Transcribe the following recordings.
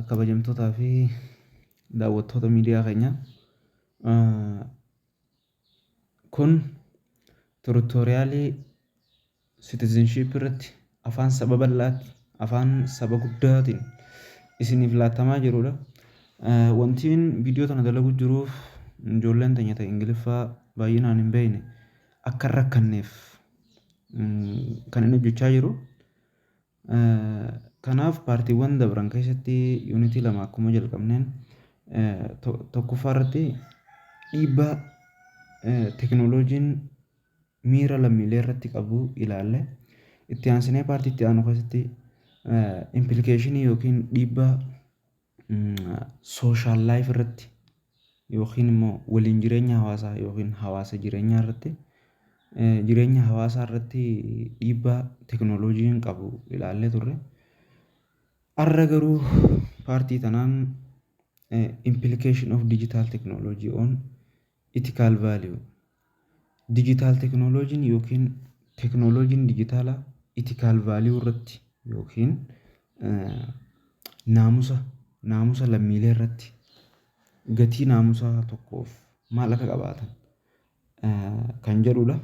Kabajamtootaa fi daawwattoota miidiyaa keenyaa kun turutooriyaalii sitizinshiippii irratti afaan saba bal'aatti afaan saba guddaatiin isiniif laattamaa jirudha. Wantiin viidiyoo tana dalagu jiruuf ijoolleen teenya ta'e ingiliffaa baay'inaan hin beekne akka hin rakkanneef kan inni hojjechaa jiru Kanaaf paartiiwwan dabran keessatti yuunitii lama akkuma jalqabneen tokkoffaa irratti dhiibbaa teknooloojiin miira lammiilee irratti qabu ilaalle. Itti aansinee paartii itti aanu keessatti impilikeeshinii yookiin dhiibbaa social life irratti yookiin immoo waliin jireenya hawaasaa yookiin hawaasa jireenyaa irratti jireenya hawaasaa irratti dhiibbaa teknolojiin qabu ilaallee turre. Har'a garuu paartii tanaan implication of digital technology on Ethical Value, Digital Technology'n ykn Technology'n dijitaalaa Ethical Value irratti ykn naamusa naamusa lammiilee irratti gatii naamusaa tokkoof maal akka qabaatan kan jedhudha.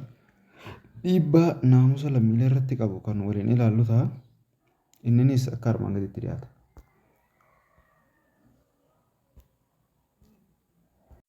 Dhiibbaa naamusa lammiilee irratti qabu kan waliin ilaallu ta'a. Inninis akka armaan gadiitti dhiyaata.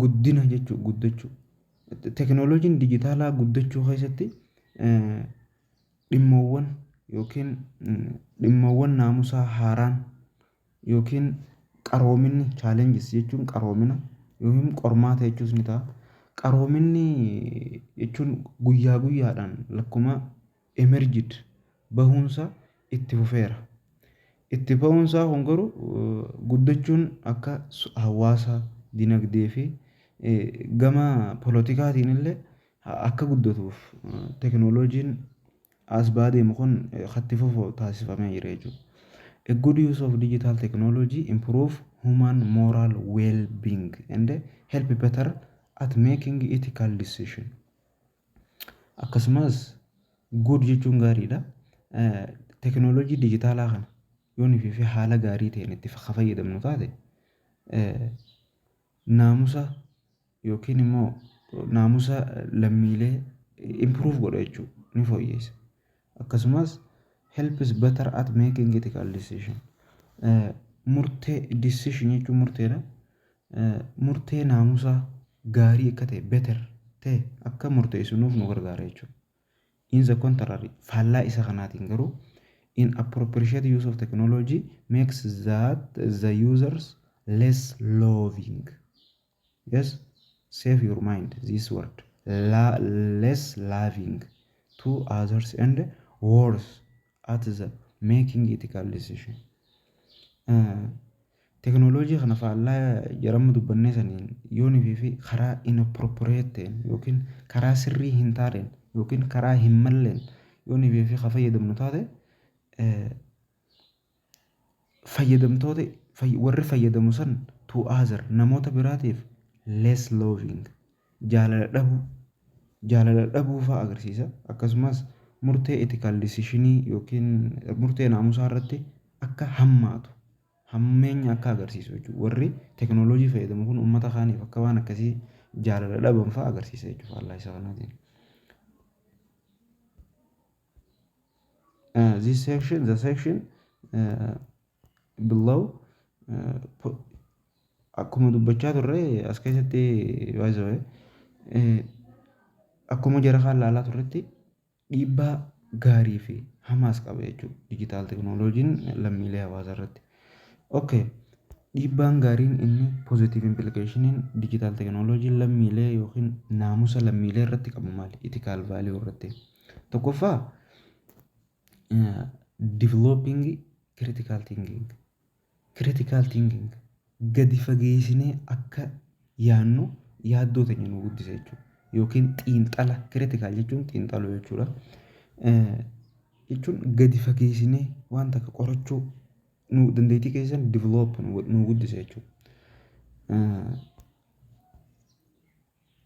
guddina jechuu guddachuu tekinooloojiin dijitaalaa guddachuu keessatti dhimmoowwan yookiin dhimmoowwan naamusaa haaraan yookiin qaroominni chaalenjis jechuun qaroomina yookiin qormaata jechuus ni ta'a. Qaroominni jechuun guyyaa guyyaadhaan lakkuma emerged, bahuunsaa itti fufeera. Itti bahuunsaa kun garuu guddachuun akka hawaasa, dinagdee fi gama polotikaatiin illee akka guddatuuf teknolojiin as ba'aa deemu kun akka itti fufu taasifamee jira jechuudha. A good use of digital technology improve human moral well-being and help better at making ethical decision. Akkasumas good jechuun gaariidha. Teknolojii dijitaalaa kana yoo nuti fi haala gaarii ta'een itti ka fayyadamnu taate naamusa yookiin immoo naamusa lammiilee improve godha jechuudha. Ni fooyyessa. Akkasumas, helps better at making ethical decision. Murtee, decision jechuun murteedha. Murtee naamusaa gaarii akka ta'e, better ta'e akka murteessinuuf nu gargaara jechuudha. In the contrary, faallaa isa kanaatiin garuu, in appropriate use of technology makes that the users less loving. Yes save your mind this word La less loving to others and worse at the making ethical decision teknooloojii kana faallaa jaramma dubbannee saniin yoon fi karaa inappropriate yookiin karaa sirrii hin taaneen yookiin karaa hin malleen yoon fi ka fayyadamnu taate fayyadamtoota warri fayyadamu san to other namoota biraatiif less loving jaalala dhabuu jaalala dhabuu fa'aa agarsiisa akkasumas murtee etikaal disishinii yookiin murtee naamusaa irratti akka hammaatu hammeenya akka agarsiisu jechuudha warri teknooloojii fayyadamu kun uummata kaaniif akka waan akkasii jaalala dhaban fa'aa agarsiisa jechuudha faallaa isaa kanaatiin. uh, this section the section uh, below uh, po- akkuma dubbachaa turre as keessatti by the way eh, akkuma jara kaan laalaa turretti dhiibbaa gaarii fi hamaas qaba jechuudha dijitaal teknooloojiin lammiilee hawaasaa irratti. Okay. Dhiibbaan gaariin inni positive implicationin dijitaal teknooloojiin lammiilee yookiin naamusa lammiilee irratti qabu maali? Ethical value irratti. Tokkoffaa developing critical thinking critical thinking gadi fageessinee akka yaannu yaaddoo teenya nu guddisa jechuudha. Yookiin xiinxala critical jechuun xiinxaluu jechuudha. Eh, Jechuun gadi fageessinee waan takka qorachuu nu dandeettii keessan develop nu nu guddisa jechuudha. Eh,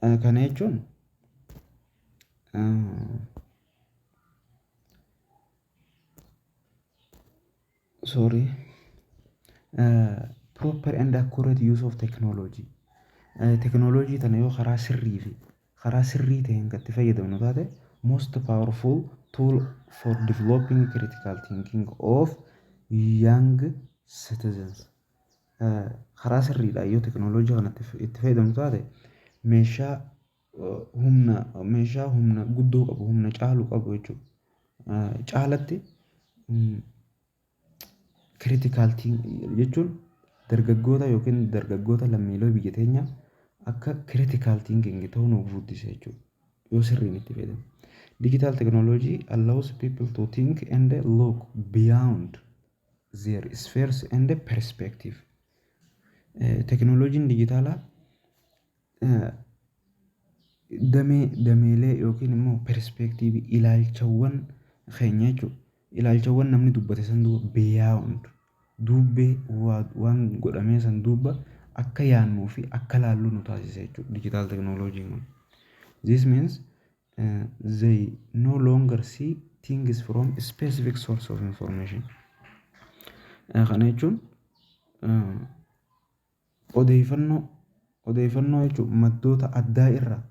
Kana jechuun sorry proper and accurate use of technology teknooloojii tana yoo karaa sirrii fi karaa sirrii ta'een kan itti fayyadamnu taate most powerful tool for developing critical thinking of young citizens. karaa sirriidhaan yoo teknooloojii kana itti fayyadamtu taate meeshaa humna meeshaa humna guddoo qabu humna caalu qabu jechuudha. Caalatti critical thing jechuun dargaggoota yookiin dargaggoota lammiilee biyya teenyaa akka critical thinking ta'uu nuuf guddisa jechuudha. Yoo sirriin itti fayyadamne. Digital technology allows people to think and look beyond their spheres and perspective. Teknooloojiin dijitaalaa damee dameelee yookiin immoo perspektiivii ilaalchawwan keenya jechuudha. Ilaalchawwan namni dubbate san duuba beyond duubbee waan godhamee san duuba akka yaannuu fi akka laallu nu taasisa jechuudha dijitaal teknooloojiin kun. This means they no longer see things from a specific source of information kana jechuun odeeffannoo odeeffannoo jechuun maddoota addaa irraa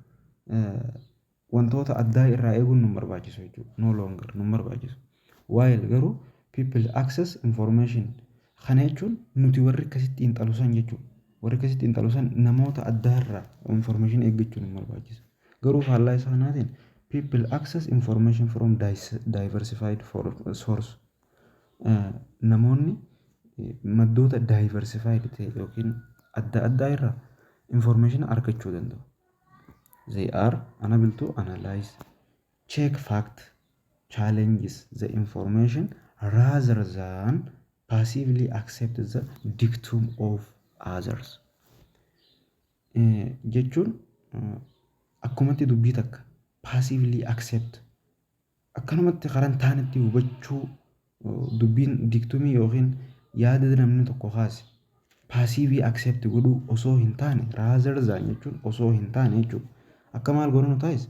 wantoota addaa irraa eeguun nu barbaachisu jechuudha no longer nu barbaachisu. While garuu people access information kana jechuun nuti warri akkasitti xiinxalu san jechuudha. Warri akkasitti xiinxalu san namoota addaa irraa information eeggachuun hin barbaachisu. Garuu faallaa isaa kanaatiin people access information from dis- diversified for- source Eh, namoonni eh, maddoota diversified ta'e yookiin adda addaa irraa information argachuu danda'u. They are unable to analyze Check fact challenges the information rather than passively accept the dictum of others. Eh, Jechuun eh, akkumatti dubbii takka passively accept akkanumatti karan taanetti hubachuu Dubbiin digtumii ykn yaada namni tokko kaase paasiivii accept godhuu osoo hin taane rather than jechuun osoo hin taane jechuudha. Akka maal godhanu taa'is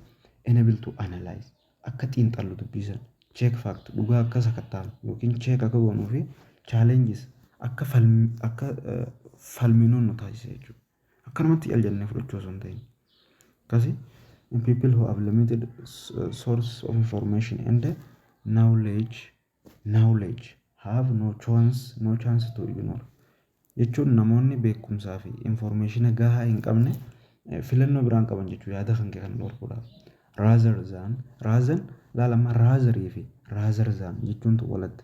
enable to analyze akka xiinxallu dubbii sana check fact dhugaa akka sakattaanu yookiin check akka goonuu fi challenges akka falmi akka falminu nu taasisa jechuudha. Akkanumatti al jennee fudhachuu osoo hin ta'in. Akkasi in people who have limited s- source of information and knowledge knowledge have no chance no chance to ignore jechuun namoonni beekumsaa fi informationa gahaa hin qabne eh, filannoo biraan qaban jechuu yaada kan kee kan dhorkudha. Rather than rather laalama rather fi rather than jechuuntu walatti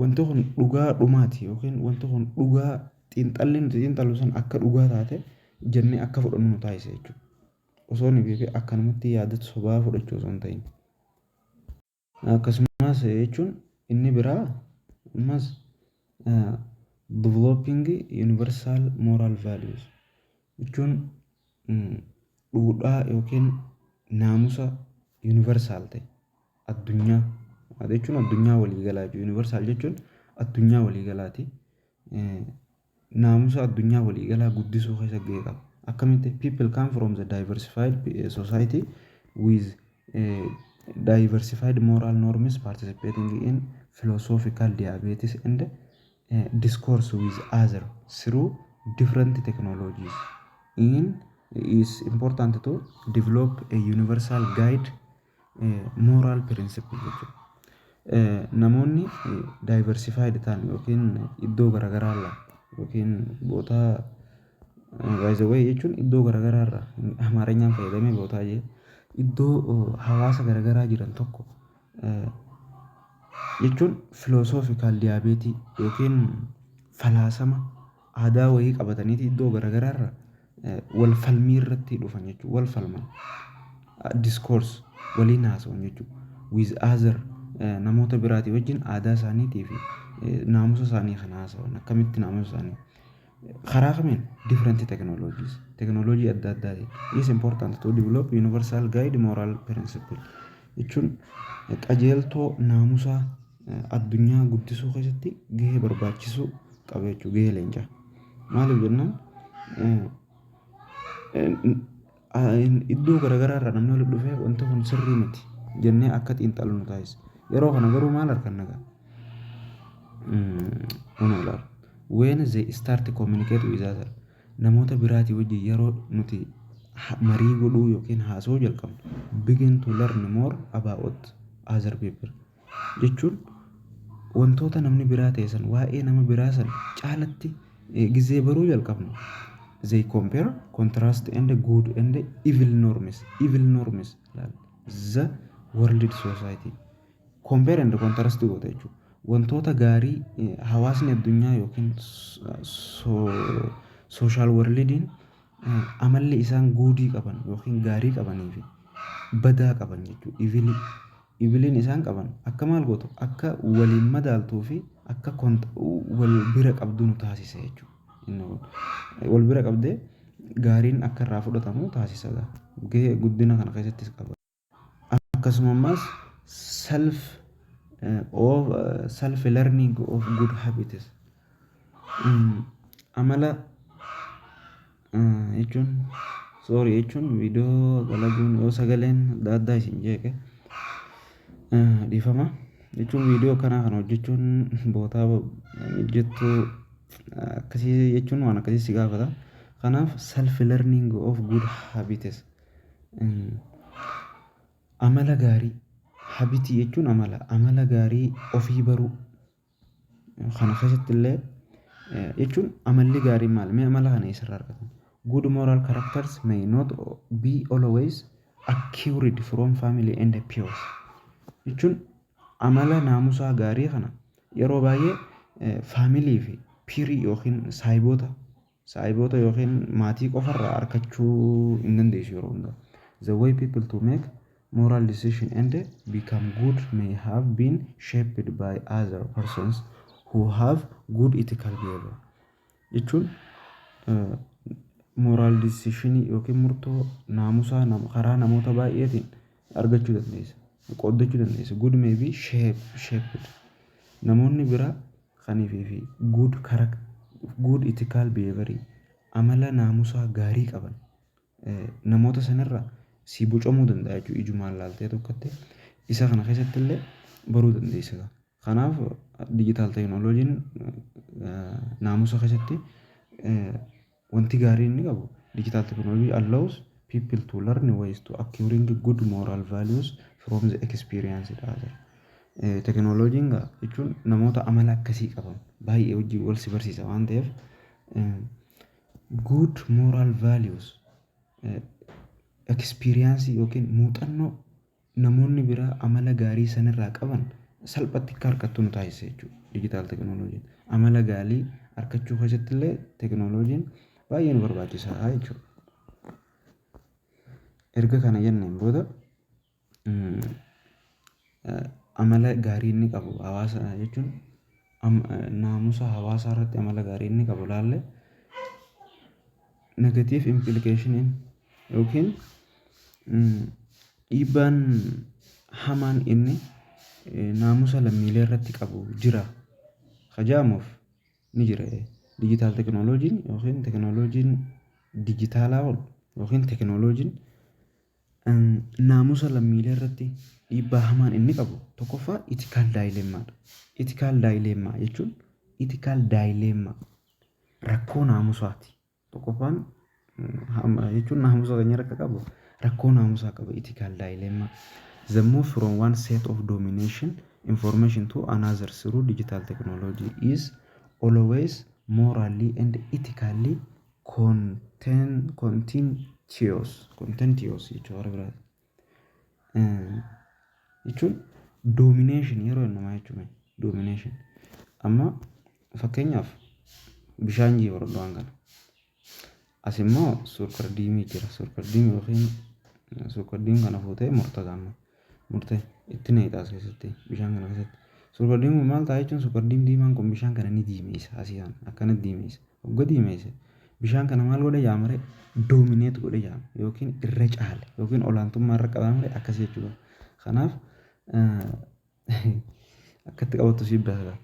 Wanti kun dhugaa dhumaati yookiin wanti kun dhugaa xiinxalli nuti xiinxallu sun akka dhugaa taate jennee akka fudhannu nu taasisa jechuudha. Osoo hin beekin akkanumatti yaada sobaa fudhachuu osoo hin ta'in. Akkasumas jechuun inni biraa ammas Developing Universal Moral Values jechuun dhuudhaa yookiin naamusa universal ta'e addunyaa jechuun addunyaa walii galaa jechuudha. Universal jechuun addunyaa walii galaati. Naamusa addunyaa walii galaa guddisuu keessatti gahee qaba. Akkamitti? People come from the diversified society with Diversified moral norms participating in philosophical debates and discourse with others through different technologies in is important to develop a universal guide eh, moral principle jechuudha. Eh, Namoonni eh, diversified ta'an yookiin iddoo garaagaraa irraa yookiin boota By the way jechuun iddoo garagaraa irraa Amaarinyaan fayyadamee bootaa jee iddoo hawaasa garagaraa jiran tokko jechuun philosophical debate yookiin falaasama aadaa wayii qabataniiti iddoo garagaraa irraa wal falmii irratti dhufan jechuudha. Wal falman discourse waliin haasa'u jechuudha. With other namoota biraatii wajjin aadaa isaaniitii fi naamusa isaanii kan haasa'an akkamitti naamusa isaanii. Karaa kamiin? Different technologies. Technology adda addaa jechuudha. It's important to develop universal guide moral principle. Jechuun qajeeltoo naamusaa addunyaa guddisuu keessatti gahee barbaachisuu qaba jechuudha. Gahee leencaa. Maaliif jennaan Iddoo garagaraa irraa namni walitti dhufee wanti kun sirrii miti jennee akka xiinxallu nu taasisa. Yeroo kana garuu maal arganna gaa? Kun ilaala. When they start to communicate with other namoota biraatii wajjin yeroo nuti marii godhuu yookiin haasa'uu jalqabnu begin to learn more about other people. jechuun wantoota namni biraa ta'e san waa'ee nama biraa san caalatti gizee baruu jalqabnu they compare contrast and good and evil norms evil norms the world society compare and contrast goota jechuudha wantoota gaarii hawaasni addunyaa yookiin sooshaal warlidiin amalli isaan guudii qaban yookiin gaarii qabanii fi badaa qaban jechuudha ivilii Ibliin isaan qaban akka maal gootu akka waliin madaaltuu fi akka wal bira qabduu nu taasisa jechuudha. Wal bira qabdee gaariin akka irraa fudhatamu taasisa gaa. Gahee guddina kana keessattis qaba. Akkasuma ammas self of self learning of good habits Amala jechuun sorry jechuun viidiyoo dalaguun yoo sagaleen adda addaa isin jeeqe dhiifama. Jechuun viidiyoo akkanaa kana hojjechuun bootaa mijjattuu akkasii jechuun waan akkasii si gaafata. Kanaaf self learning of good habits amala gaarii habit jechuun amala, amala gaarii ofii baruu. Kana keessatti illee jechuun amalli gaariin maali? Mee amala kana eessarraa argatan? Good moral characters may not be always acquired from family and peers. Jechuun amala naamusaa gaarii kana yeroo baay'ee faamilii fi piirii yookiin saayiboota Saahiboota ykn maatii qofa irraa arkachuu hin dandeessu yeroo hunda. The way people to make moral decision and become good may have been shaped by other persons who have good ethical behavior. Jechuun moral decision ykn murtoo naamusaa nam karaa namoota baay'eetiin argachuu dandeessa. Qooddachuu dandeessa. Good may be shaped. Namoonni biraa Kanifi fi good character, good ethical behavior, amala naamusaa gaarii qaban namoota san irraa sii bocamuu danda'a jechuudha ijumaan laaltee tokkotti. Isa kana keessatti illee baruu dandeessa gaa. Kanaaf digital technology'n naamusa keessatti Wanti gaariin inni qabu, digital technology allows people to learn ways to acquiring good moral values from the experience dha jedha. Tekinooloojiin gaa jechuun namoota amala akkasii qaban baay'ee wajjin wal si barsiisa waan ta'eef good moral values experience yookiin muuxannoo namoonni biraa amala gaarii san irraa qaban salphatti akka harkattu nu taasisa jechuudha digital technology amala gaarii harkachuu keessatti illee technology baay'ee nu barbaachisa jechuudha. Erga kana jenneen booda amala gaarii inni qabu hawaasa jechuun naamusa hawaasaa irratti amala gaarii inni qabu ilaalle Negative implication'n yookiin dhiibbaan hamaan inni naamusa lammiilee irratti qabu jira ka jedhamuuf ni jira. Digital technology'n yookiin teknooloojiin dijitaalaa kun yookiin teknooloojiin naamusa lammiilee irratti dhiibbaa hamaan inni qabu tokkoffaa ethical dilemma dha. Ethical dilemma jechuun ethical dilemma rakkoo naamusaati. Tokkoffaan jechuun naamusa keenya irra akka qabu rakkoo naamusaa qaba ethical dilemma. The move from one set of domination information to another through digital technology is always morally and ethically content contentious contentious jechuudha. jechuun domination yeroo jennu maal jechuu mee? Domination. Amma fakkeenyaaf bishaan jee fudhadhu waan kana. As immoo suukardiimii jira. Suukardiimii yookiin suukardiimii kana fuutee murta gaamma. Murte itti naqxa as keessatti bishaan kana keessatti. Suukardiimii maal ta'a jechuun suukardiimii diimaan kun bishaan kana ni diimeessa asii kana akkana diimeessa. Hogga diimeesse Bishaan kana maal godhe jaama ree? Dominate godhe jaama yookiin irra caale yookiin olaantummaa irra qabaama ree akkas jechuu qaba. Kanaaf akkatti qabattu siif daala.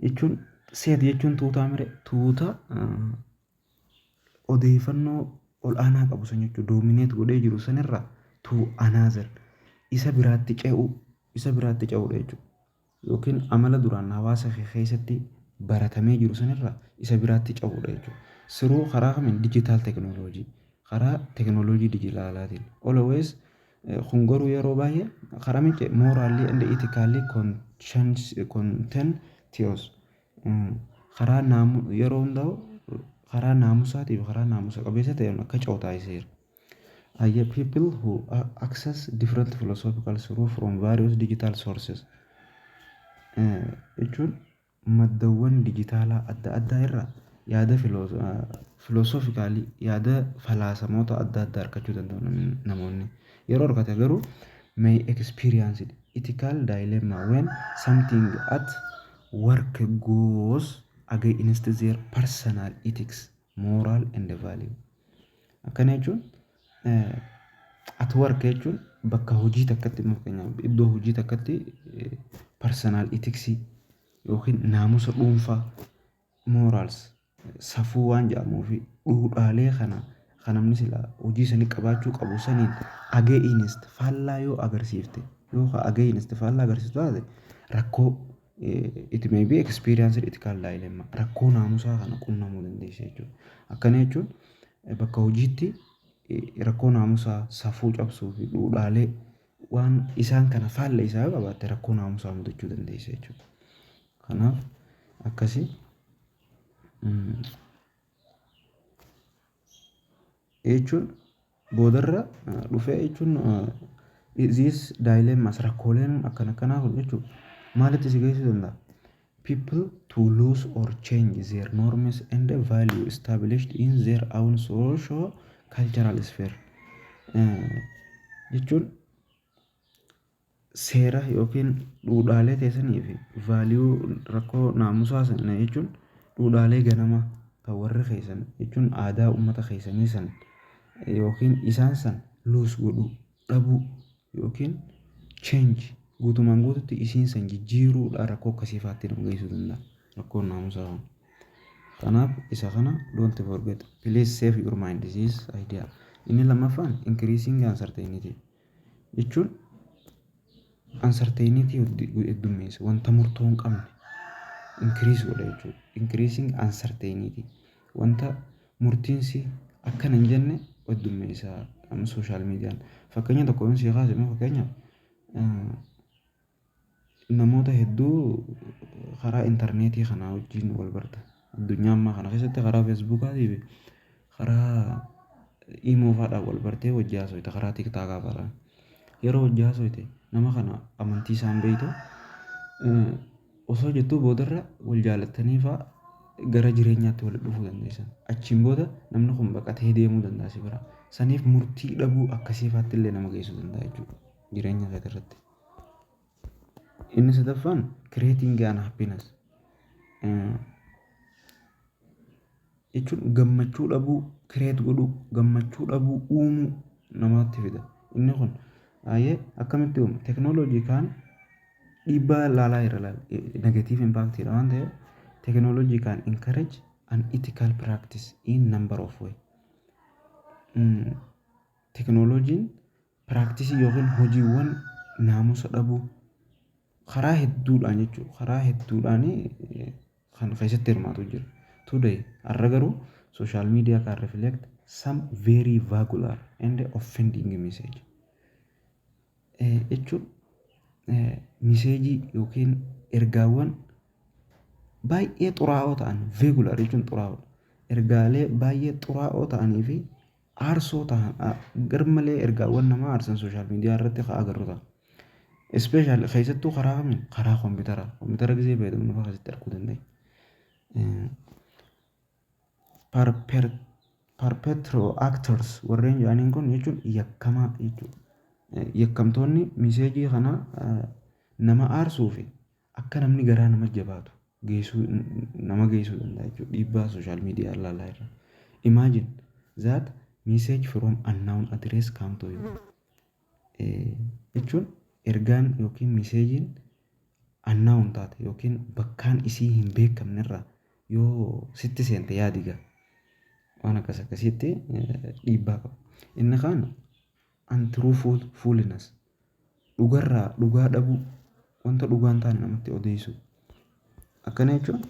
Jechuun seet jechuun tuutaa mire tuuta odeeffannoo ol'aanaa qabu san jechuudha. Dominate godhee jiru sanirra to another isa biraatti ce'uu isa biraatti ce'uudha jechuudha. ykn amala duraan hawaasa kee keessatti baratamee jiru san irraa isa biraatti ce'uudha jechuudha. Through karaa kamiin digital technology karaa technology dijitaalaatiin always kun garuu yeroo baay'ee karaa mitti morally and ethically conscience- content theos karaa naamu yeroo hundaa'u karaa naamusaatii fi karaa naamusa qabeessa ta'een akka ce'u taasiseera. are the people who access different philosophical through from various digital sources Eh, jechuun maddawwan dijitaalaa adda addaa irraa yaada filoosofikaalii yaada falaasamoota adda addaa argachuu danda'u nam- namoonni yeroo argate garuu may experience ethical dilemma when something at work goes against their personal ethics Moral and value. Akkana jechuun at work jechuun bakka hojii takkatti fakkeenyaaf iddoo hojii takkatti personal ethics yookiin naamusa dhuunfaa morals safuu waan jedhamuu fi dhuudhaalee kana kan namni silaa hojii sanii qabaachuu qabu saniin against faallaa yoo agarsiifte yoo against faallaa agarsiiftu taate rakkoo it may be experienced ethical dilemma rakkoo naamusaa kana qunnamuu dandeessa jechuudha. Akkana jechuun bakka hojiitti rakkoo naamusaa safuu cabsuu fi dhuudhaalee waan isaan kana faalla isaa yoo qabaatte rakkoo naamusaa mudachuu dandeessa jechuudha. Kanaaf akkasi jechuun boodarra dhufee jechuun these dilemmas rakkooleen akkan akkanaa kun jechuun maalitti si geessuu danda'a? People to lose or change their norms and value established in their own social cultural sphere jechuun seera yookiin dhuudhaalee teessanii fi vaaliyuu rakkoo naamusaa sana jechuun dhuudhaalee ganamaa kan warri keessan jechuun aadaa uummata keessanii san yookiin isaan san luus godhuu dhabuu yookiin change guutumaan guututti isiin san jijjiiruudhaan rakkoo akkasii faatti nu geessuu danda'a rakkoon naamusaa kun. Kanaaf isa kana don't forget please save your mind this is idea. Inni lammaffaan increasing uncertainty. jechuun uncertainty heddummeessa wanta murtoo hin qabne increase godha jechuudha. Increasing uncertainty wanta murtiinsi akkana hin jenne heddummeessa amma social media fakkeenya tokko yoon sii kaase immoo fakkeenyaaf Namoota hedduu karaa interneetii kanaa wajjin wal barta. Addunyaa ammaa kana keessatti karaa Feesbuukaatii fi karaa Imoo fa'aadhaan wal bartee wajjin haasofta karaa Tiktaakaa fa'aadhaan. Yeroo wajjin haasofte nama kana amantii isaa hin beektu. Osoo jettuu boodarra wal jaalattanii fa'aa gara jireenyaatti walitti dhufuu dandeessan. Achiin booda namni kun baqatee deemuu danda'a si biraa. Saniif murtii dhabuu akkasii fa'aatti illee nama geessuu danda'a jechuudha jireenya keetii irratti. Inni sadaffaan creating an happiness eh, jechuun gammachuu dhabuu create godhuu gammachuu dhabuu uumuu namatti fida. Inni kun baay'ee akkamitti uuma? Teknooloojii kaan dhiibbaa laalaa irra laala. Negatiiv impaaktiidha waan ta'eef teknooloojii kaan encourage an ethical practice in number of way. Mm, Teknooloojiin Piraaktisii yookiin hojiiwwan naamusa dhabuu karaa hedduudhaan jechuudha. Karaa hedduudhaan kan keessatti hirmaatu jira. Today har'a garuu social media can reflect some very vagular and offending message. Eh, jechuun eh, miseejii yookiin ergaawwan baay'ee xuraa'oo ta'an veegular jechuun xuraa'oodha. Ergaalee baay'ee xuraa'oo ta'anii fi aarsoo tahan garmalee ergaawwan namaa aarsan social media irratti ka agarru ta'a. Especially keessattuu karaa kamiin karaa kompiitaraa kompiitara gizee fayyadamnu fa'aa keessatti arguu dandeenya. Perpetro actors warreen jedhaniin kun jechuun yakkamaa jechuudha. Yakkamtoonni miseejii kana nama aarsuu fi Akka namni garaa nama jabaatu geessuu nama geessuu danda'a jechuudha dhiibbaa social media ilaalaa irra. Imagine that message from unknown address come to you. Jechuun ergaan yookiin meseejiin unknown taate yookiin bakkaan isii hin beekamne irraa yoo sitti seente yaadiga waan akkas akkasiitti dhiibbaa qaba. Inni kaan untruthfulness, dhugarraa dhugaa dhabuu, wanta dhugaa hin taane namatti odeessuu. Akkana jechuun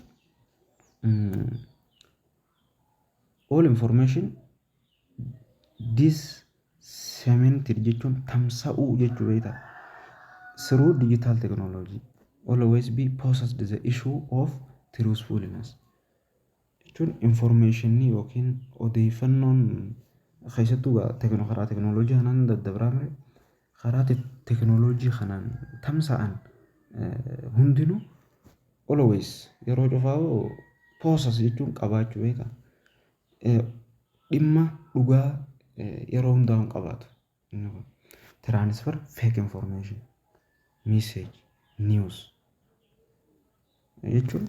all information disseminated jechuun tamsa'uu jechuu beektaa through digital technology always be possessed the issue of truthfulness. jechuun information yookiin odeeffannoon keessattuu gaa tekno- karaa teknooloojii kanaan daddabraa mire karaa te- teknooloojii kanaan tamsa'an eh, hundinuu always yeroo cufaa'u poosas jechuun qabaachuu beeka Eh, dhimma dhugaa eh, yeroo hundaa hin qabaatu inni kun transfer fake information message news jechuun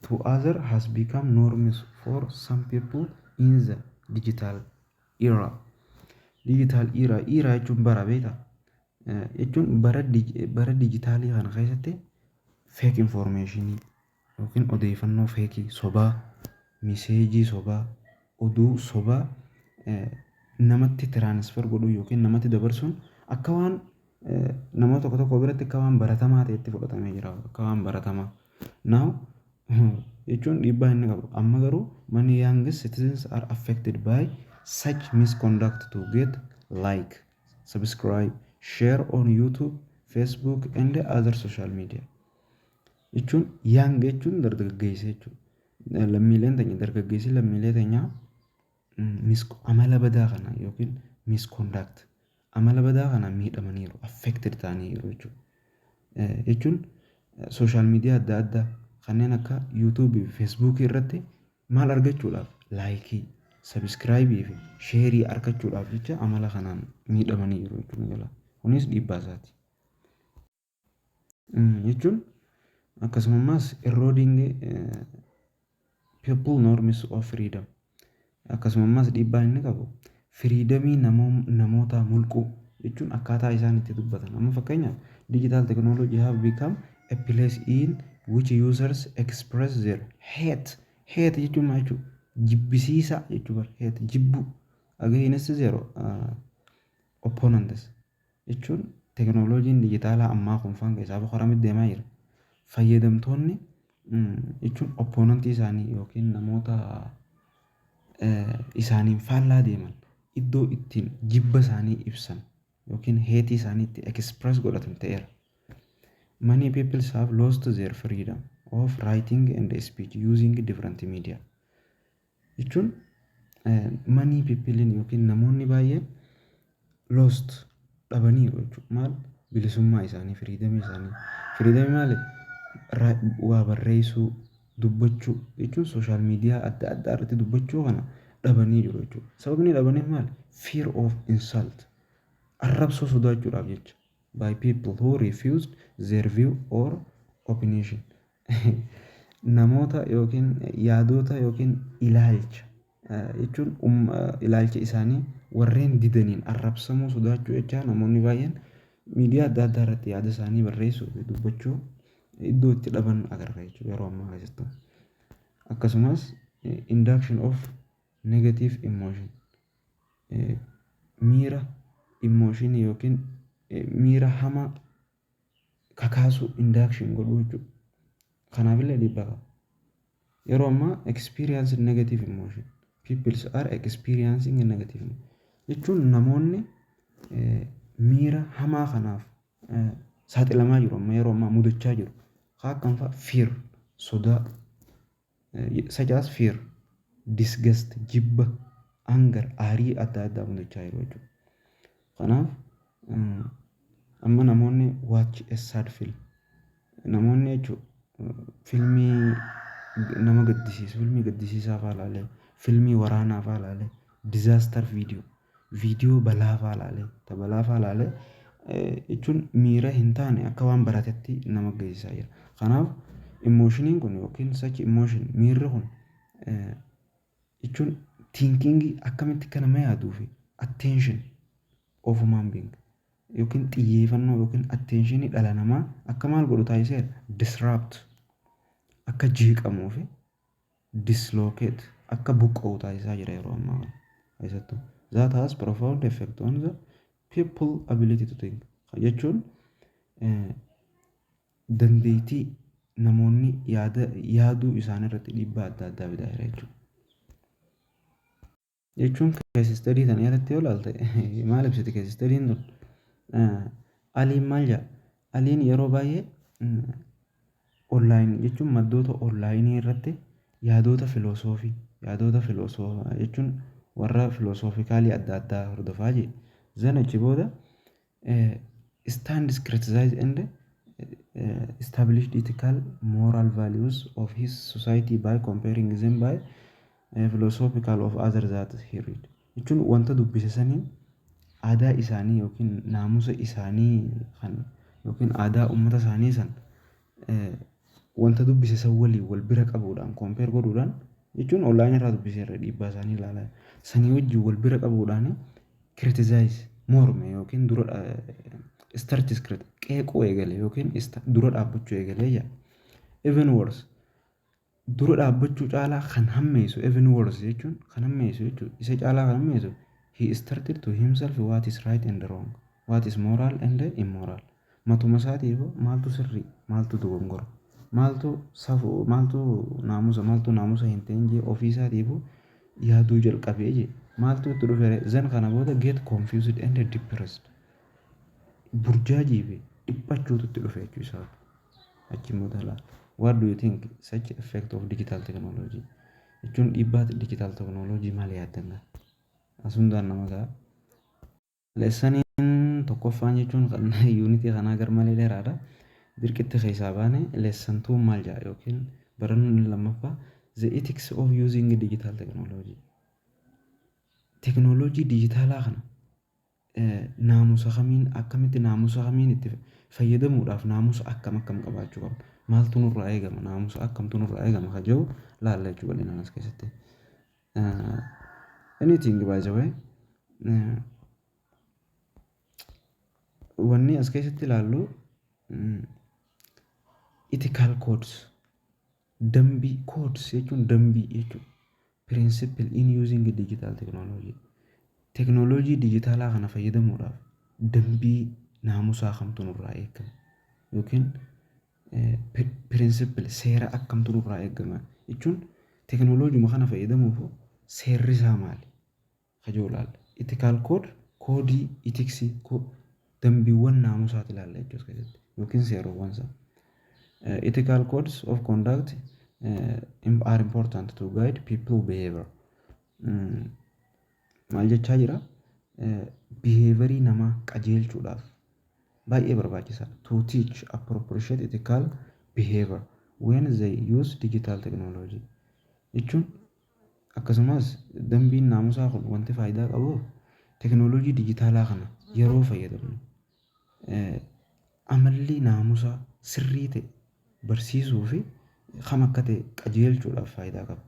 to other has become norms for some people in the digital era. Digital era, era jechuun bara beektaa? Eh, Jechuun bara dij- bara dijitaalii kana keessatti fake information yookiin odeeffannoo feekii sobaa, miseejii sobaa, oduu sobaa eh, namatti transfer godhuu yookiin namatti dabarsuun akka waan namoota tokko tokko biratti akka waan baratamaa ta'etti fudhatamee jira. Akka waan baratamaa. Now jechuun dhiibbaa inni qabu. Amma garuu many young citizens are affected by such misconduct to get like, subscribe, share on YouTube, Facebook and other social media. Jechuun young jechuun dargaggeessa jechuudha. Lammiileen teenya dargaggeessi lammiilee teenyaa Misk amala badaa kanaan yookiin misconduct amala badaa kanaan miidhamaniiru affected ta'aniiru jechuudha. Jechuun sooshaal miidiyaa adda addaa kanneen akka yuutuubii fi feesbuukii irratti maal argachuudhaaf laayikii sabiskiraayibii fi sheerii argachuudhaaf jecha amala kanaan miidhamaniiru jechuudha. Kunis dhiibbaa isaati. jechuun akkasumammaas eroding people norms of freedom akkasumammaas dhiibbaan inni qabu firiidamii namootaa mulquu jechuun akkaataa isaan itti dubbatan amma fakkeenyaaf digital technology have become a place in which users express their hate hate jechuun maal jechuudha jibbisiisaa jechuu bar hate jibbuu against their uh, opponents jechuun teknolojiin dijitaalaa ammaa kun faan keessaa boqoramitti deemaa jira fayyadamtoonni jechuun oppoonantii isaanii yookiin namoota isaaniin faallaa deeman iddoo ittiin jibba isaanii ibsan yookiin heetii isaanii itti express godhatan ta'eera. Many people have lost their freedom of writing and speech using different media. jechuun many people yookiin namoonni baay'een lost dhabaniiru jechuudha. Maal bilisummaa isaanii, freedom isaanii. Freedom maali? Waa barreessuu, dubbachuu jechuun social media adda addaa irratti dubbachuu kana dhabanii jiru jechuudha. Sababni dhabaniif maali? Fear of insult. Arrabsoo sodaachuudhaaf jecha. By people who refused their view or opinion. Namoota yookiin yaadoota yookiin ilaalcha jechuun ilaalcha isaanii warreen didaniin arrabsamuu sodaachuu jechaa namoonni baay'een miidiyaa adda addaa irratti yaada isaanii barreessuu fi dubbachuu iddoo itti dhaban agarra jechuudha yeroo ammaa keessatti. Akkasumas induction of negative emotion miira emotion yookiin miira hamaa kakaasuu, induction, godhuu jechuudha. Kanaafillee dhiibbaa qaba. Yeroo ammaa experienced negative emotion. Peoples are experiencing a negative emotion. Jechuun namoonni eh, miira hamaa kanaaf eh, saaxilamaa jiru amma yeroo ammaa mudachaa jiru. Kaa akkamfaa fear, sodaa, such as fear, disgust, jibba, anger, aarii adda addaa mudachaa jiru jechuudha. Kanaaf amma namoonni watch a sad film namoonni jechuun filmii nama gaddisiisu filmii gaddisiisaa fa'aa ilaalee filmii waraanaa fa'aa ilaalee disaster video Viidiyoo balaafaa laale. Ta balaafaa laale jechuun miira hin taane akka waan baratetti nama geessisaa jira. Kanaaf imooshiniin kun yookiin such emotion miirri kun jechuun tiinkiingii akkamitti akka nama yaaduu fi attention of human being yookiin xiyyeeffannoo yookiin attentionii dhala namaa akka maal godhu taasiseera disrupt akka jeeqamuu fi dislocate, akka buqqa'u taasisaa jira yeroo ammaa kana keessattuu. That has profound effect on the people ability to think. Kana jechuun dandeettii namoonni yaada yaaduu isaanii irratti dhiibbaa adda addaa fidaa jira jechuudha. jechuun kees istadii tana irratti yoo ilaalte maal ibsiti kees istadiin tun aliin maal jedha aliin yeroo baay'ee onlaayinii jechuun maddoota onlaayinii irratti yaadoota filoosoofii yaadoota filoosoofa jechuun warra filoosoofii kaalii adda addaa hordofaa jee zanachi booda stands criticize and established ethical moral values of his society by comparing them by eh, philosophical of other that he read jechuun wanta dubbise saniin aadaa isaanii yookiin naamusa isaanii kan yookiin aadaa ummata isaanii san eh, wanta dubbise san waliin wal bira qabuudhaan kompeer godhuudhaan jechuun onlaayinii irraa dubbise irra dhiibbaa isaanii ilaalaa sanii wajjin wal bira qabuudhaan criticize, morme yookiin dura dha, starts crit, qeequu eegale yookiin sta- dura dhaabbachuu eegale jedha. Even worse, dura dhaabbachuu caalaa kan hammeessu even worse jechuun kan hammeessu jechuudha. Isa caalaa kan hammeessu he started to himself what is right and wrong, what is moral and immoral. Matumasaatiifuu maaltu sirrii, maaltu dogongora, maaltu safu, maaltu naamusa, maaltu naamusa hin ta'in jee ofiisaatiifuu yaaduu jalqabee jee maaltu itti dhufere zan kana booda get confused and depressed burjaajii fi dhiphachuutu itti dhufe jechuu isaati. Achi immoo dhala what do you think such effect of digital technology jechuun dhiibbaa digital technology maal yaaddan gaa? As hundaan nama ga'a. Lesson tokkoffaan jechuun kan unit kanaa garmalee dheeraadha. Dirqitti keessaa baane lesson 2 maal jedha yookiin barannoon inni lammaffaa the ethics of using digital technology. Teknooloojii dijitaalaa kana eh, naamusa kamiin akkamitti naamusa kamiin itti fayyadamuudhaaf naamusa akkam akkam qabaachuu qabna. Maaltu nurraa eegama naamusa akkamtu nurraa eegama kan jedhu laalla jechuudha bal'inaan as keessatti. Anything by the way wanni as keessatti ilaallu ethical codes dambii codes jechuun dambii jechuudha. Principle in using digital technology teknooloojii dijitaalaa kana fayyadamuudhaaf dambii naamusaa kamtu nurraa eegama yookiin Principle seera akkamtu nurraa eegama jechuun teknoloojuma kana fayyadamuuf seerri isaa maali kajoo ilaalla. Ethical code koodii itiksii dambiiwwan naamusaati ilaalla jechuu as keessatti yookiin seerowwan isaa. Ethical codes of conduct are important to guide people behavior. Maal jechaa jira? Behavior namaa qajeelchuudhaaf baay'ee barbaachisaadha. To teach appropriate ethical behavior when they use digital technology jechuun akkasumas dambiin naamusaa kun wanti faayidaa qabuuf teknooloojii dijitaalaa kana yeroo fayyadamnu eh, amalli naamusaa sirrii ta'e barsiisuu fi kam akka ta'e qajeelchuudhaaf faayidaa qaba.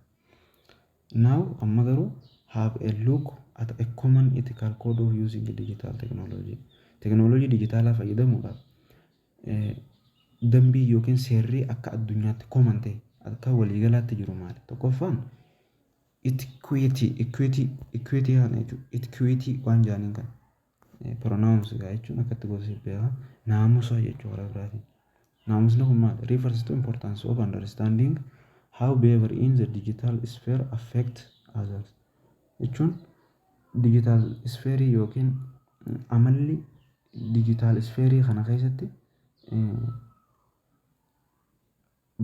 Now, amma garuu, have a look at a common ethical code of using digital technology. Teknooloojii dijitaalaa fayyadamuudhaaf eh, dambii yookiin seerri akka addunyaatti common ta'e akka waliigalaatti jiru maali? Tokkoffaan equity, equity, equity kana jechuudha. Equity waan jaaniin kana. Pronounce gaa jechuun akkatti gosa siif beeka. Naamusa jechuu karaa biraatiin. Naamusni kun maal? Refers to importance of understanding how behavior in the digital sphere affect others. Jechuun digital sphere yookiin amalli digital sphere kana keessatti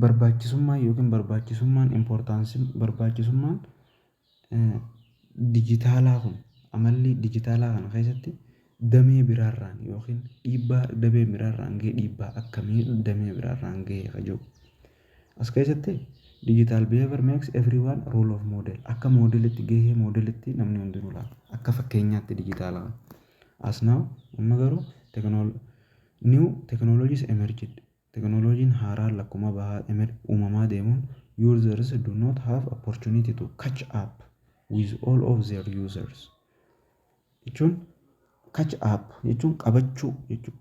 Barbaachisummaan ykn barbaachisummaan, importance, barbaachisummaan dijitaalaa kun, amalli dijitaalaa kana keessatti damee biraarraan ykn dhiibbaa damee biraarraan gahe dhiibbaa akkamii damee biraarraan gahe ka jedhu. As keessatti digital behavior makes everyone role of model. Akka moodelitti gahee moodelitti namni hundinuu laata. Akka fakkeenyaatti dijitaala kana. As now amma garuu new technologies emerged. Technology-n haaraan lakkuma bahaa emir uumamaa deemuun ursers do not have opportunity to catch up with all of their users jechuun catch up jechuun qabachuu jechuu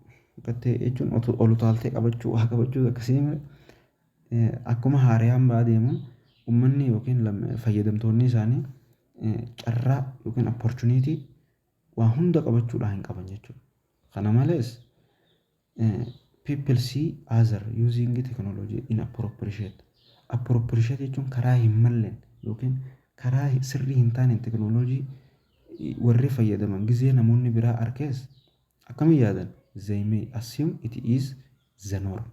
qattee jechuun otu- ol utaaltee qabachuu waa qabachuu akkasii mire eh, akkuma haarayaan ba'aa deemuun ummanni yookiin lam- fayyadamtoonni isaanii eh, carraa yookiin opportunity waa hunda qabachuudhaa hin qaban jechuudha. Kana malees People see other using technology in appropriate. Appropriate jechuun karaa hin malleen yookiin karaa sirrii hin taaneen teknooloojii warri fayyadaman gizee namoonni biraa arkees akkamiin yaadan they may assume it is the norm.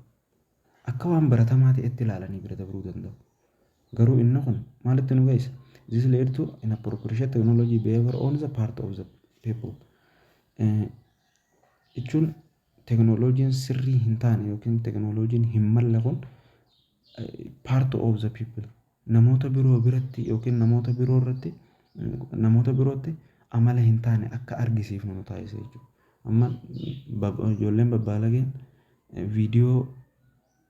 Akka waan baratamaa ta'etti ilaalanii bira dabruu danda'u. Garuu inni kun maalitti nu geessa? This led to inappropriate technology behavior on the part of the people. jechuun teknolojiin sirrii hin taane yookiin teknolojiin hin malle kun part of the people namoota biroo biratti yookiin namoota biroo irratti namoota birootti amala hin taane akka argisiifnu nu taasisa jechuudha. Amma bab- ijoolleen babbaalageen viidiyoo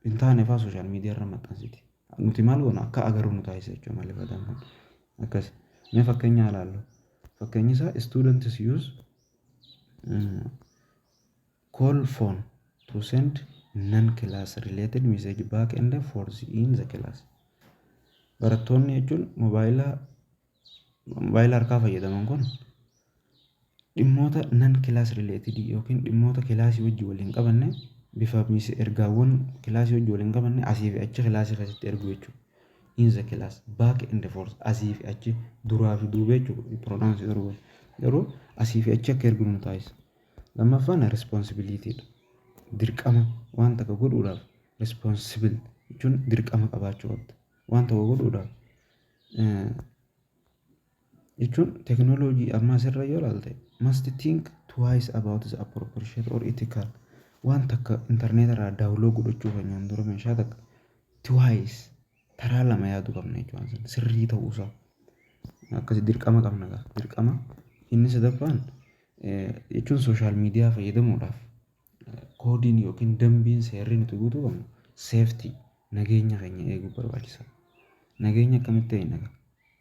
hin taane fa'aa sooshaal miidiyaa irra maxxansiti. Nuti maal goona akka agarru nu taasisa jechuudha malli fayyadamu kun. Akkas. Mee fakkeenya ilaallu. Fakkeenyi isaa students use call phone to send non class related message back and forth in the class barattoonni jechuun mobaayila mobaayila harkaa fayyadaman kun dhimmoota non class related yookiin dhimmoota kilaasii wajji wal hin qabanne bifa ergaawwan kilaasii wajji wal hin qabanne asii fi achi kilaasii keessatti ergu jechuudha. in the class back and forth asii fi achi duraa fi duuba jechuudha pronounce garuu wal garuu asii fi achi akka erginu nu taasisa lammaffaan responsibility dha dirqama waan takka godhuudhaaf responsible jechuun dirqama qabaachuu qabda waan tokko godhuudhaaf eh, jechuun teknolojii ammaas irra yoo ilaalte must think twice about the appropriate or ethical waan takka intarneeta irraa daawuloo godhachuu keenyaan dura meeshaa takka twice taraa lama yaaduu qabna jechuudha san sirrii ta'uusaa akkasi dirqama qabna gaa dirqama inni sadaffaan jechuun sooshaal miidiyaa fayyadamuudhaaf koodiin yookiin dambiin seerri nuti guutuu qabnu seeftii nageenya keenya eeguu barbaachisa nageenya akkamitti eegna gaa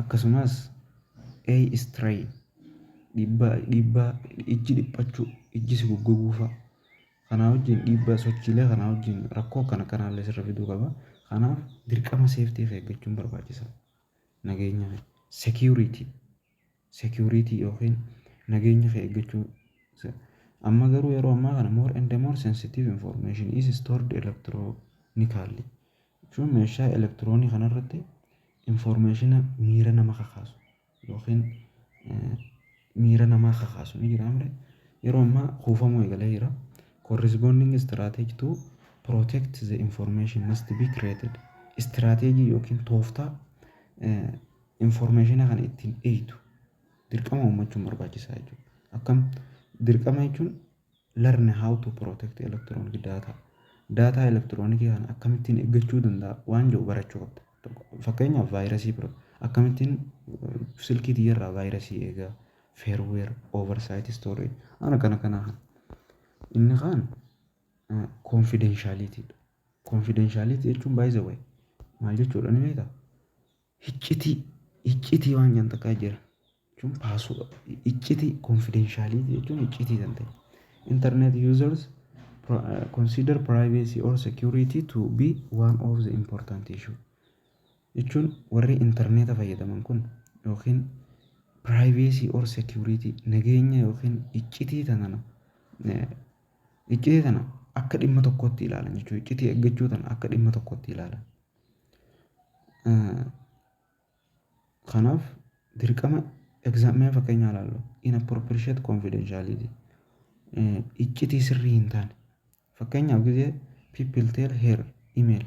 Akkasumas, eye strain, dhiibbaa, dhiibbaa ijji dhiphachuu, ijji si goggoguu fa'a. Kanaa wajjin dhiibbaa sochiilee kanaa wajjin rakkoo akkana akkanaa illee sirra fiduu qaba. Kanaaf dirqama safety of eeggachuun barbaachisaadha. Nageenya security. security yookiin nageenya kee eeggachuu isa amma garuu yeroo ammaa kana more and more sensitive information is stored electronically jechuun meeshaa elektiroonii kanarratti informationa miira nama kakaasu yookiin eh, miira namaa kakaasu ni jira mire yeroo ammaa kuufamuu eegalee jira corresponding strategy to protect the information must be created strategy yookiin tooftaa eh, Information kana ittiin eeytu dirqama uummachuun barbaachisaa jechuudha. Akkam dirqama jechuun learn how to protect electronic data. Daataa elektiroonikii kana akkamittiin eeggachuu danda'a waan jedhu barachuu qabda. Fakkeenyaaf vaayirasii bira akkamittiin silkii tiyyarraa vaayirasii eegaa fairware oversight storage ana kana kana kana. Inni kaan confidentiality dha. Confidentiality jechuun by the way maal jechuudha ni beektaa? Hiccitii hiccitii waan jedhan takkaa jira. Jechuun paasuu hiccitii confidentiality jechuun hiccitii kan ta'e. Internet users pro- uh, consider privacy or security to be one of the important issue. Jechuun warri interneeta fayyadaman kun yookiin privacy or security nageenya yookiin hiccitii tanana eh, hiccitii tana akka dhimma tokkootti ilaalan jechuudha. Hiccitii eeggachuu tana akka dhimma tokkootti ilaalan. Kanaaf dirqama mee fakkeenya haa ilaallu inappropriate confidentiality iccitii sirrii hin taane fakkeenyaaf gizee people tell her email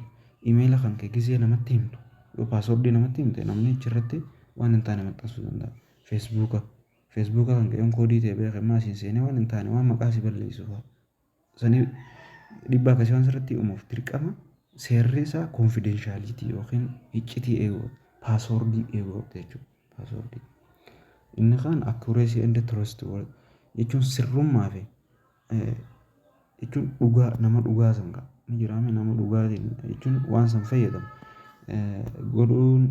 imeela kan kee gizee namatti himtu yoo paaswordii namatti himte namni achirratti waan hin taane maxxansuu danda'a feesbuuka feesbuuka kan kee yoon koodii ta'e beeke ammaa siin seenee waan hin taane waan maqaa si balleessu fa'a. sanii dhibbaa akkasii waan sirratti uumuuf dirqama seerri isaa konfidenshaaliti yookiin iccitii eeguu paasoordii eeguu qabda jechuudha. Paasoordii. Inni kaan akkureesii enda turist jechuun sirrummaa fi jechuun dhugaa nama dhugaa san qaba. Ni jiraame nama dhugaatiin jechuun waan san fayyadamu godhuun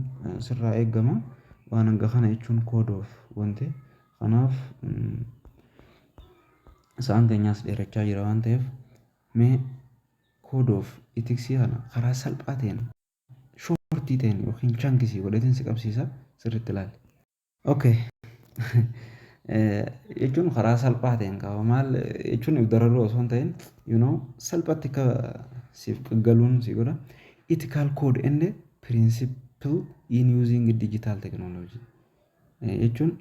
sirraa eegama waan hanga kana jechuun koodoof wante. Kanaaf sa'aan keenyaas dheerachaa jira waan ta'eef mee code of ethics kana karaa salphaa ta'een shortii ta'een yookiin chankisii godheetiin si qabsiisa sirriitti ilaali. Okay. jechuun karaa salphaa ta'een qaba maal jechuun if dararuu osoo hin ta'in you know salphatti akka siif galuun si godha ethical code and principle in using digital technology jechuun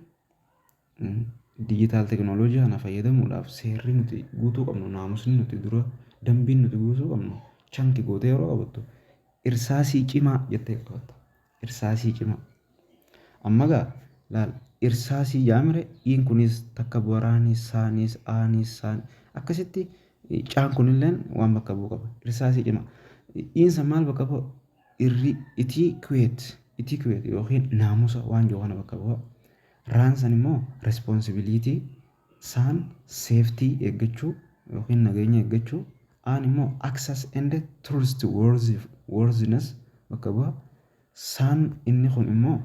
digital technology kana fayyadamuudhaaf seerri nuti guutuu qabnu naamusni nuti dura dambiin nuti guutuu qabnu chanki gootee yeroo qabattu irsaasii cimaa jettee qabatta irsaasii cimaa amma gaa laal irsaasii jaamire iin kunis takka waraanii saaniis aaniis saan akkasitti caan kunilleen waan bakka bu'u qaba irsaasii cimaa iin san maal bakka bu'a Dhirri itii kuweet, etiquette, ykn naamusa waan jiru kana bakka bu'a. Raan san immoo responsibility, saan safety eeggachuu ykn nageenya eeggachuu, aan immoo access and trustworthiness bakka bu'a. Saan inni kun immoo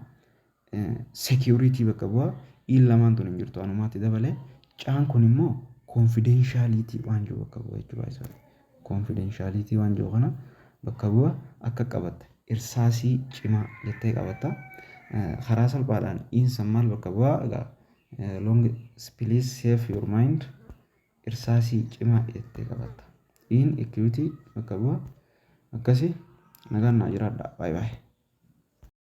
security bakka bu'a iin lamaan tun hin jirtu anumaatti dabale caan kun immoo confidentiality waan jiru bakka bu'a jechuudha isa confidentiality waan jiru kana bakka bu'a akka qabatta irsaasii cimaa jettee qabatta Eh, karaa salphaadhaan iin san maal bakka bu'a egaa eh, long please save your mind irsaasii cimaa jettee qabatta iin equity bakka bu'a akkasi nagaan naa jiraadha baay'ee baay'ee